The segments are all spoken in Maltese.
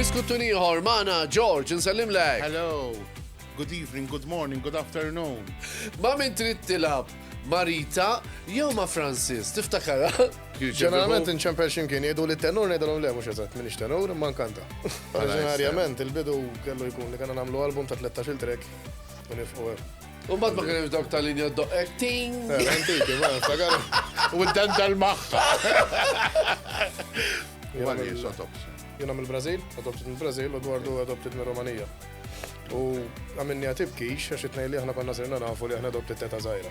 Diskuttu ieħor magħna George, insellimlek. Hello, good evening, good morning, good afternoon. Ma min trid tilab Marita jew ma Francis, tiftakara? Ġeneralment inċempel ximkien jgħidu li tenur ngħidilhom le mhux eżatt minix tenur imma nkanta. Oriġinarjament il-bidu kellu jkun li kellna nagħmlu album ta' 13-il track u nifqu hemm. U mbagħad ma kienx dawk tal-linja doqqek ting. Eh, antiki, ma nftakar. U d-dental magħha. Jien għamil Brażil, adopted mill Brażil u dwardu adopted mill Romanija. U għamilni għatib kix, għax itnej li aħna konna sirna nafu li aħna adopted teta zaħira.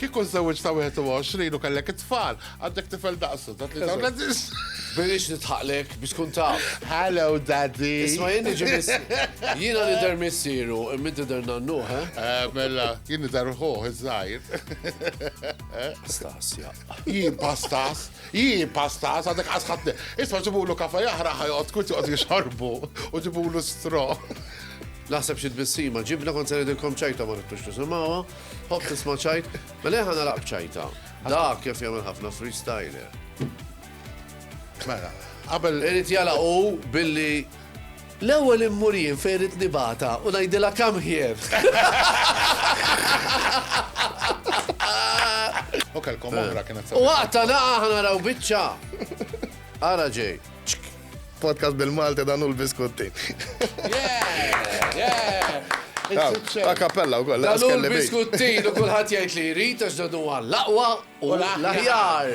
Kieku żewġ ta' 21 u kellek it-tfal, għandek tifel daqsu ta' 33. Birix nitħaqlek biex tkun taf. Hello, daddy. Isma jien ġimis. Jiena li der missiru, minn der nannu, ha? Eh? Eh, mela, jien der ħuħ, iż-żajr. Pastas, ja. Jien pastas, jien pastas, għadek għasħatni. Isma ġibulu kafa jahra ħajot, kut joqt jixorbu, u ġibulu stro. Naħseb xi tbissima, ġibna kont se ngħidilkom ċajta ma nittux tisimawa. Hopp tisma' ċajt, mela ħa nara b'ċajta. Dak kif jagħmel ħafna freestyler. Mela, qabel. Irid jala u billi l-ewwel immurien fejn irid nibata u ngħidilha kam ħjer. U kelkom oħra kienet. U waqta naqa' ħa naraw biċċa. Ara ġej. Podcast bil-Malti dan u l-biskutti. Yeah, yeah. A kappella u koll. Għallu l-biskuttin u kullħat jgħid li jrid għax dan huwa l-aqwa u l-aħjar.